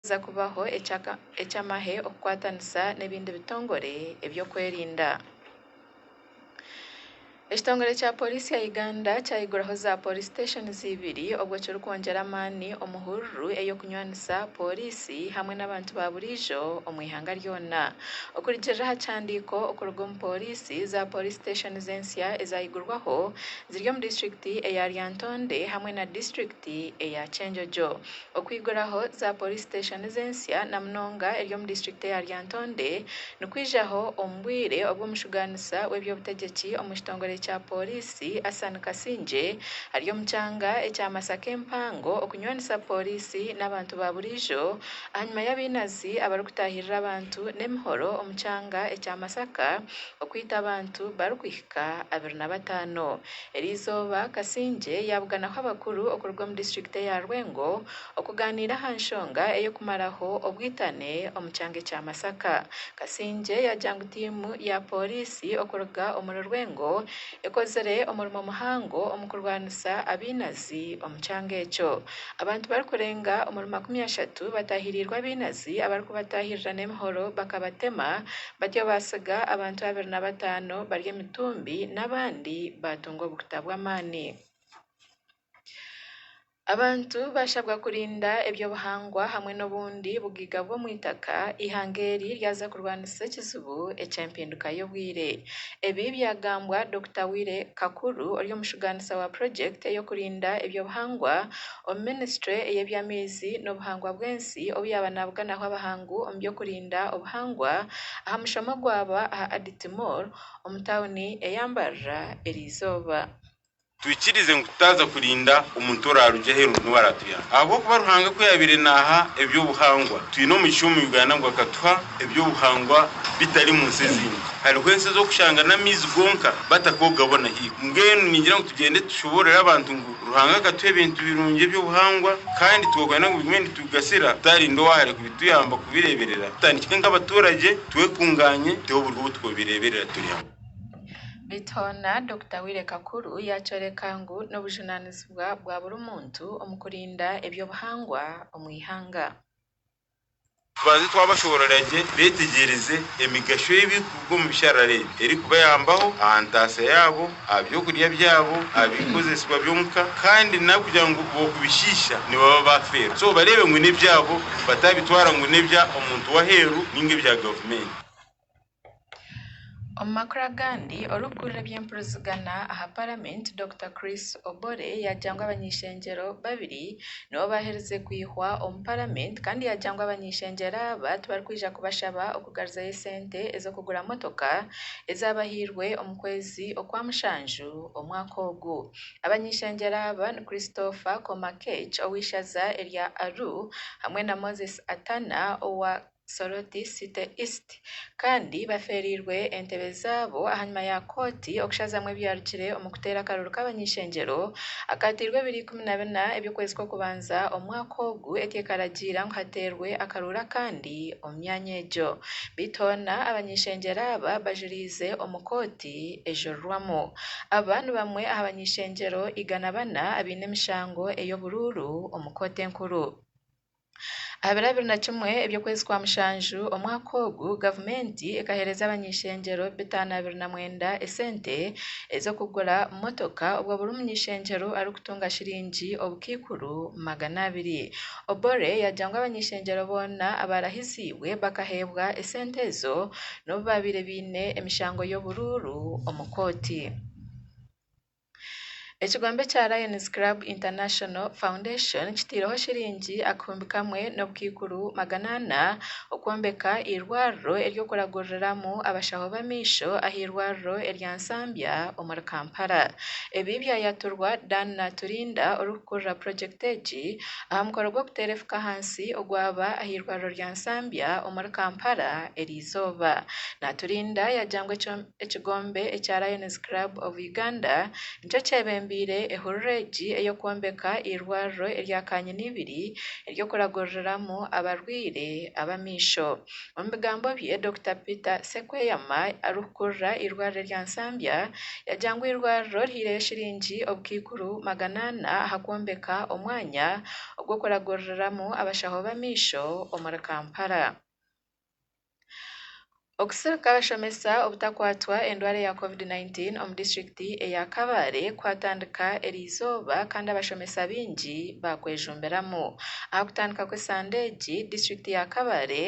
nikibaasa kubaho eky'amahe okukwatanisa n'ebindi bitongore eby'okwerinda. Ekitongore kya Pooriisi ya Uganda kyayiguraho za Police Stations ibiri obwo kirikwongyera amaani omu hururu ey'okunywanisa Pooriisi hamwe n'abantu ba buriijo omu ihanga ryona. Okurigirira aha kihandiiko okuruga omu Pooriisi, za Police Stations ensya ezaayigurwaho ziri omu Disiturikiti eya Lyantonde hamwe na Disiturikiti eya Kyenjojo. Okwiguraho za police station z'ensya na munonga eri omu district eya Lyantonde nikwijaho omu bwire obu omushuganisa w'eby'obutegyeki omu kitongore kya police Asan Kasingye ari omu kyanga ekya Masaka Empango okunywanisa police n'abantu ba burijo ahanyima y'abainazi abarikutahirira abantu n'emihoro omu kyanga ekya Masaka okwita abantu barikuhika abiri na bataano. Eri izooba Kasingye yaabuganaho abakuru okuruga omu disiturikiti eya Lwengo okugaaniira aha nshonga ey'okumaraho obwitane omu kyanga ekya Masaka. Kasingye yaagira ngu tiimu ya pooriisi okuruga omuri Lwengo ekozire omurimo muhango omu kurwanisa abainazi omu kyanga ekyo. Abantu barikurenga omuri makumi ashatu bataahiriirwe abainazi abarikubataahirira n'emihoro bakabatema Batyo baatsiga abantu abiri na bataano bari emitumbi, n'abandi baatunga obukuta bw'amaani. Abantu baashabwa kurinda eby'obuhangwa hamwe n'obundi bugaiga bw'omu itaka eihanga eri ryaza kurwanisa ekizibu eky'empinduka y'obwire. Ebi byagambwa Dokita Wire Kakuru ori omushugaanisa wa purojekiti ey'okurinda eby'obuhangwa omu ministry ey'eby'amaizi n'obuhangwa bw'ensi obu yaaba naabuganaho abahangu omu by'okurinda obuhangwa aha mushomo ogwaba aha Adi Timur omu tauni eya Mbarara erizooba. Twikirize ngu tutaaza kurinda omuntu oraaruge aheeru ngu niwe araatuyamba ahabw'okuba Ruhanga ku yaabaire naaha eby'obuhangwa twine omugisha omu Uganda ngu akatuha eby'obuhangwa bitari mu nsi ezindi. Hariho ensi ez'okushanga n'amaizi gonka batakoogabonaho iwe. Mbwenu ningira ngu tugyende tushoboorore abantu ngu Ruhanga akatuha ebintu birungi eby'obuhangwa kandi twogana ngu bigume nitugasira tutarinda owaahare kubituyamba kubireeberera. Tutandikire nk'abatuuragye, twekungaanye, tuteho oburyo obu twobireeberera turi hamwe. Beitu hoona Dokita Wire Kakuru yaakyoreka ngu n'obujunaanizibwa bwa buri muntu omu kurinda eby'obuhangwa omu ihanga. Tubanze twabashoboorora gye beetegyereze emigasho y'ebirikuruga omu bisharara ebi erikubayambaho aha ntaasa yaabo, aha by'okurya byabo, aha bikozesibwa by'omuka kandi na kugira ngu b'okubishiisha nibaba baafeerwa so bareebe ngu n'ebyabo bataabitwara ngu n'ebya omuntu w'aheeru nainga ebya gavumenti. Omu makuru agandi, orikukurira eby'empuruzigana aha paramenti Dokita Chris Obore yaagira ngu abany'ishengyero babiri nibo baaherize kwihwa omu paramenti kandi yaagira ngu abany'ishengyero aba tibarikwija kubashaba okugaruzayo esente ez'okugura motoka ezaabahairwe omu kwezi okwa mushanju omwaka ogu. Abany'ishengyero aba ni Christopher Komakech ow'eishaza erya Aruu hamwe na Moses Atana owa Soroti City East kandi bafeereirwe entebe zaabo ahanyima ya kooti okushazamu ebyarugire omu kuteera akaruru k'abany'ishengyero akaateirwe ebiro ikumi na bina eby'okwezi kw'okubanza omwaka ogu eti ekaragiira ngu hateerwe akaruuru akandi omu myanya egyo beitu hoona abany'ishengyero aba bajuriize omu kooti ejurirwamu aba nibamwe aha bany'ishengyero igana bana abaine emishango ey'oburuuru omu kooti enkuru. Aha biro abiri na kimwe eby'okwezi kwa mushanju omwaka ogu, gavumenti ekaheereza abany'eishengyero bitaano abiri na mwenda esente ez'okugura motoka obwo buri muny'eishengyero arikutunga shiringi obukaikuru magana abiri. Obore yaagira ngu abany'eishengyero boona abaarahiziibwe bakaheebwa esente ezo n'obu baabaire baine emishango y'oburuuru omu kooti. Ekigambo ekya Lions Club International Foundation kitaireho shiringi akahumbi kamwe n'obukaikuru magana ana okwombeka eirwariro ery'okuraguriramu abashaho b'amaisho ah'eirwariro erya Nsambya omuri Kampala. Ebi byayaturwa Dan Naturinda orikukurira purojekiti egi aha mukoro gw'okuteera efuka ahansi ogwaba ah'eirwariro rya Nsambya omuri Kampala eriizooba. Naturinda yaagira ngu ekyo. Ekigombe ekya Lions Club of Uganda nikyo kyebembeire ehurura egi ey'okwombeka eirwariro erya kanyina ibiri ery'okuraguriramu abarwaire ab'amaisho. Omu bigambo bye Dokita Peter Sekweyama arikukurira eirwariro erya Nsambya yagira ngu eirwariro rihaireyo shiringi obukaikuru magana ana aha kwombeka omwanya ogw'okuraguriramu abashaho b'amaisho omuri Kampala. Okusirika abashomesa obutakwatwa endwara ya covid 19 omu district eya Kabale kwatandika eri izooba kandi abashomesa baingi bakwejumbiramu. Aha kutandika kw'esande egi district ya Kabale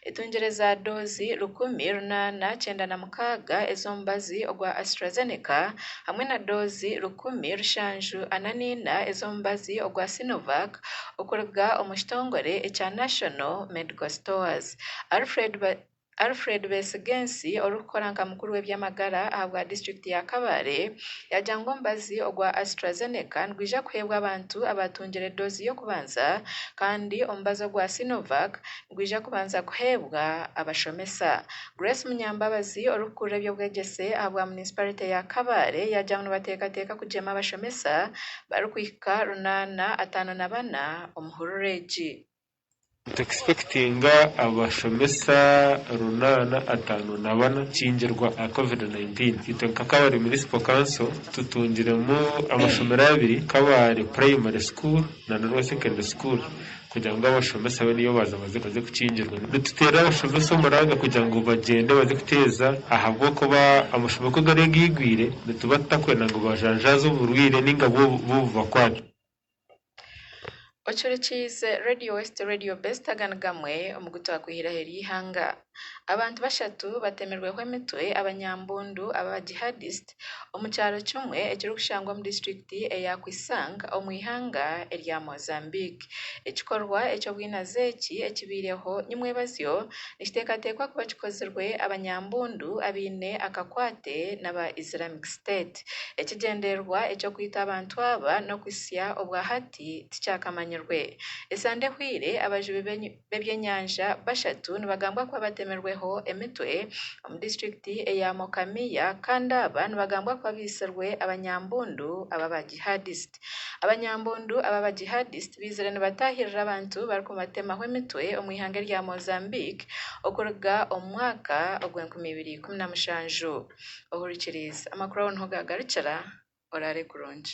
etungire za dozi rukumi runana kyenda na mukaaga ez'omubazi ogwa Astrazeneca hamwe na dozi rukumi rushanju ana na ina ez'omubazi ogwa Sinovac. okuruga omu kitongore ekya National Medical Stores. Alfred Besigensi orikukora nka mukuru w'eby'amagara ahabwa disiturikiti ya Kabale yaagira ngu omubazi ogwa AstraZeneca nigwija kuheebwa abantu abaatungire doozi y'okubanza kandi omubazi ogwa Sinovac gwija kubanza kuheebwa abashomesa. Grace Munyambabazi orikukurira eby'obwegyese ahabwa munisiparite ya Kabale yaagira ngu nibateekateeka kugyema abashomesa barikuhika runaana ataano na bana omu hurura egi. Tutekispekitinga abashomesa runaana ataano na bana kukingirwa aha covid nineteen. Itwe nka Kabale Municipal Council tutungiremu amashomero abiri, Kabale Primary School na Norwa Secondary School kugira ngu abashomesa be niyo baza baze baze kukingirwa. Nituteerera abashomesa omuranga kugira ngu bagyende baze kuteeza ahabw'okuba amashomo ku gari agaigwire nituba tutakwenda ngu bajanjaaze oburwaire nainga bwo bubakwate. Ocurikiize Radio West Radio Best aga ni gamwe omu gu twakwihire aheeru y'eihanga. Abantu bashatu batemirweho emitwe abanyambundu aba Jihadist omu kyaro kimwe ekirikushangwa omu disiturikiti eya Kwisang omu ihanga erya Mozambique. Ekikorwa eky'obwinazi eki ekibaireho nyimwebazyo nikiteekateekwa kuba kikozirwe abanyambundu abaine akakwate n'aba Islamic State. Ekigyendererwa eky'okwita abantu aba n'okuhitsya obwa hati tikyakamanyirwe. Esande ehweire abajubi b'ebyenyanja bashatu nibagambwa kuba batemirweho emitwe omu district eya Mokamiya kandi aba nibagambwa kuba baitsirwe abanyambundu aba ba Jihadist. Abanyambundu aba ba Jihadist baizire nibatahirira abantu barikubatemaho emitwe omu ihanga erya Mozambique okuruga omu mwaka ogwa enkumi ibiri ikumi na mushanju. Ohurikiriize, amakuru aho niho gagarukira, oraare kurungi.